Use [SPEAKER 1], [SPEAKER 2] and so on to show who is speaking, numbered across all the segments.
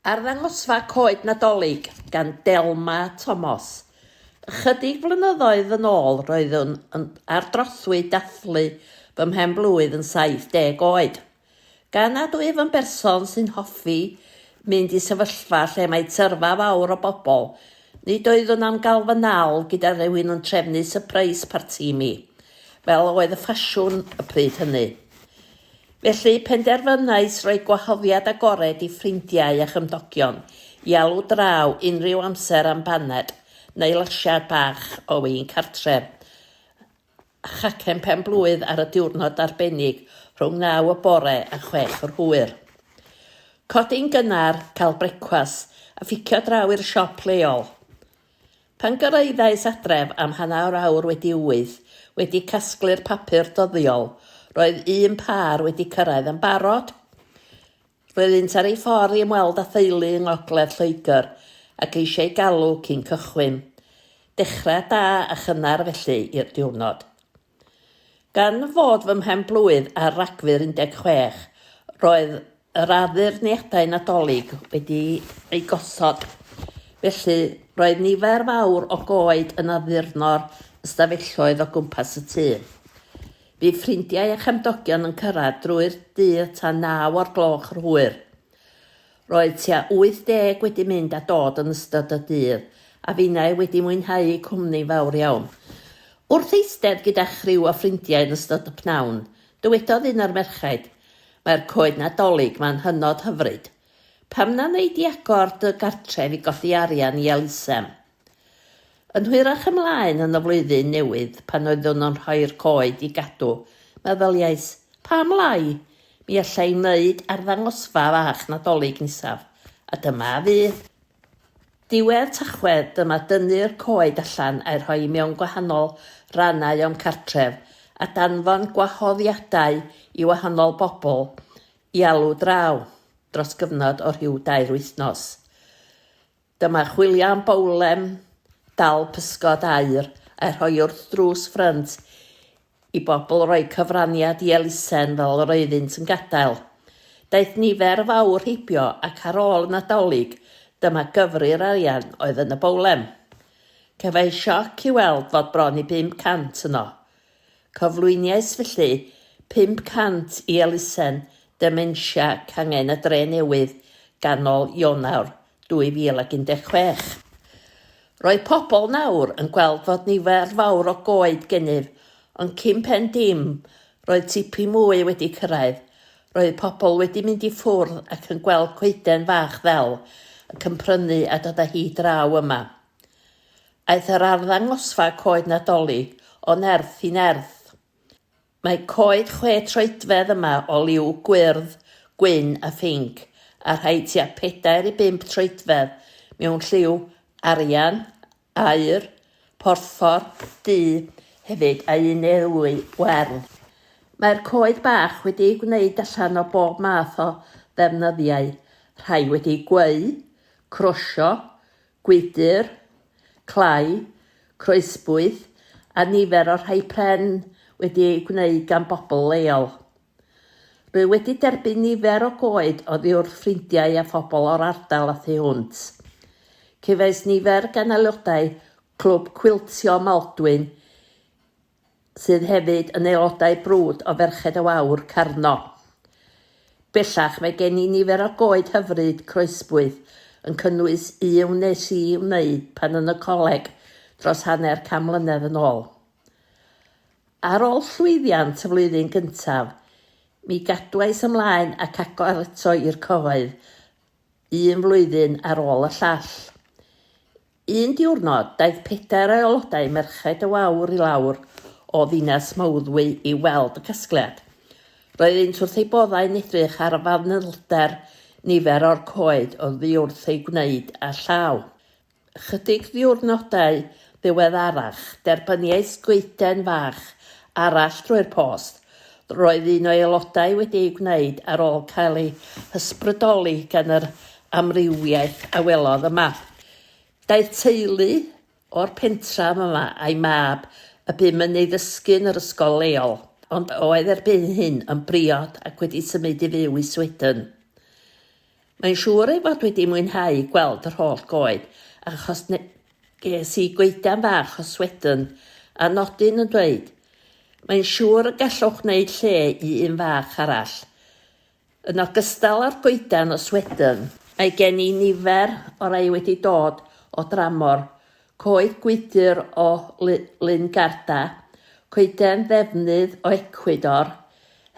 [SPEAKER 1] Arddangosfa Coed Nadolig gan Delma Tomos. Ychydig flynyddoedd yn ôl roeddwn yn ardrothwy dathlu fy mhen-blwydd yn 70 oed. Gan nad wyf yn berson sy'n hoffi mynd i sefyllfa lle mae tyrfa fawr o bobl, nid oeddwn am gael fy nal gyda rhywun yn trefnu sypreis parti i mi, fel oedd y ffasiwn y pryd hynny. Felly, penderfynais roi gwahoddiad agored i ffrindiau a chymdogion i alw draw unrhyw amser am baned neu lasiad bach o win cartref a chacen pen-blwydd ar y diwrnod arbennig rhwng naw y bore a chwech yr hwyr. Codi'n gynnar, cael brecwast a phicio draw i'r siop leol. Pan gyrraeddais adref am hanner awr wedi wyth, wedi casglu'r papur dyddiol, roedd un pâr wedi cyrraedd yn barod. Roeddynt ar eu ffordd i ymweld â theulu yng ngogledd Lloegr ac eisiau galw cyn cychwyn. Dechrau da a chynnar felly i'r diwrnod. Gan fod fy mhen-blwydd ar Ragfyr 16, roedd yr addurniadau Nadolig wedi eu gosod, felly roedd nifer fawr o goed yn addurno'r ystafelloedd o gwmpas y tŷ. Bu ffrindiau a chefndogion yn cyrraedd drwy'r dydd tan naw o'r gloch yr hwyr. Roedd tua 80 wedi mynd a dod yn ystod y dydd, a finnau wedi mwynhau'u cwmni fawr iawn. Wrth eistedd gyda chriw o ffrindiau yn ystod y pnawn, dywedodd un o'r merchaid, Mae'r coed Nadolig 'ma'n hynod hyfryd. Pam na wnei di agor dy gartref i golli arian i elusen? Yn hwyrach ymlaen yn y flwyddyn newydd, pan oeddwn yn rhoi'r coed i gadw, meddyliais, 'Pam lai? Mi alla i wneud arddangosfa fach Nadolig nesaf. A dyma a fu. Diwedd Tachwedd, dyma dynnu'r coed allan a'u rhoi mewn gwahanol rannau o'm cartref, a danfon gwahoddiadau i wahanol bobl i alw draw, dros gyfnod o rhyw dair wythnos. Dyma chwilio am bowlen dal pysgod aur a'i rhoi wrth drws ffrynt i bobl roi cyfraniad i elusen fel yr oeddynt yn gadael. Daeth nifer fawr heibio ac ar ôl y Nadolig dyma gyfri'r arian oedd yn y bowlen. Cefais sioc i weld fod bron i 500 yno. Cyflwyniais felly 500 i elusen dementia cangen y dre newydd ganol Ionawr 2016. Roedd pobl nawr yn gweld fod nifer fawr o goed gennyf, ond cyn pen dim, roedd tipyn mwy wedi cyrraedd. Roedd pobl wedi mynd i ffwrdd ac yn gweld coeden fach ddel ac yn prynu a dod â hi draw yma. Aeth yr arddangosfa coed Nadolig o nerth i nerth. Mae coed chwe troedfedd yma o liw gwyrdd, gwyn a phinc, a rhai tua pedair i bump troedfedd mewn lliw arian, aur, porffor, du hefyd a un neu ddwy wern. Mae'r coed bach wedi'u gwneud allan o bob math o ddefnyddiau, rhai wedi gweu, crosio, gwydr, clai, croesbwyth a nifer o'r rhai pren wedi eu gwneud gan bobl leol. Rwy wedi derbyn nifer o goed oddi wrth ffrindiau a phobl o'r ardal a thu hwnt. Cefais nifer gan aelodau Clwb Cwiltio Maldwyn sydd hefyd yn aelodau brwd o Ferched y Wawr, Carno. Bellach mae gen i nifer o goed hyfryd croesbwyll yn cynnwys un wnes i wneud pan yn y coleg dros hanner can mlynedd yn ôl. Ar ôl llwyddiant y flwyddyn gyntaf, mi gadwais ymlaen ac agor eto i'r cyhoedd un flwyddyn ar ôl y llall. Un diwrnod, daeth pedair o aelodau Merched y Wawr i lawr o ddinas Mawddwy i weld y casgliad. Roeddynt wrth eu boddau yn edrych ar y fanylder nifer o'r coed oddi wrth eu gwneud â llaw. Ychydig ddiwrnodau ddiweddarach, derbyniais goeden fach arall drwy'r post, Roedd un o'i aelodau wedi ei gwneud ar ôl cael ei hysbrydoli gan yr amrywiaeth a welodd yma. Daeth teulu o'r pentref yma a'i mab y bum yn ei ddysgu yn yr ysgol leol, ond oedd erbyn hyn yn briod ac wedi symud i fyw i Sweden. Mae'n siŵr ei fod wedi mwynhau gweld yr holl goed, achos ne- ges i goeden fach o swedyn, a nodyn yn dweud, Mae'n siŵr y gallwch wneud lle i un fach arall. Yn ogystal â'r goeden o swedyn, mae gen i nifer o rai wedi dod o dramor, coed gwydr o Ly- Lyn Garda, coeden ddefnydd o Ecwydor,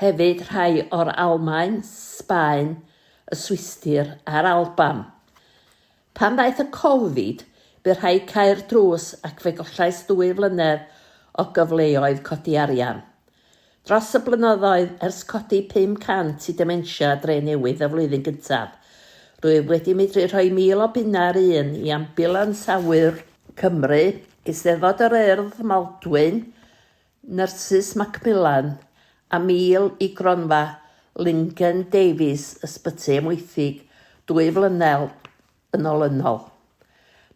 [SPEAKER 1] hefyd rhai o'r Almaen, Sbaen, y Swistir a'r Alban. Pan ddaeth y Covid, bu rhaid cau'r drws ac fe gollais ddwy flynedd o gyfleoedd codi arian. Dros y blynyddoedd ers codi 500 i Dementia Drenewydd y flwyddyn gyntaf, rwyf wedi medru rhoi 1,000 o bunnau ar un i Ambiwlans Awyr Cymru, Eisteddfod yr Urdd, Maldwyn, Nyrsys Macmillan a Mil i Gronfa Lingen Davies Ysbyty Amwythig dwy flynedd yn olynol.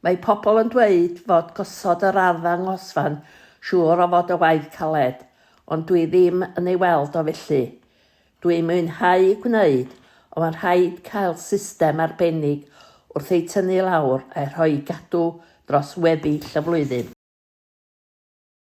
[SPEAKER 1] Mae pobl yn dweud fod gosod yr arddangosfa'n siŵr o fod y waith caled, ond dwi ddim yn ei weld o felly. Dwi'n mwynhau gwneud, ond mae'n rhaid cael system arbennig wrth eu tynnu lawr a'u rhoi i gadw dros weddill y flwyddyn.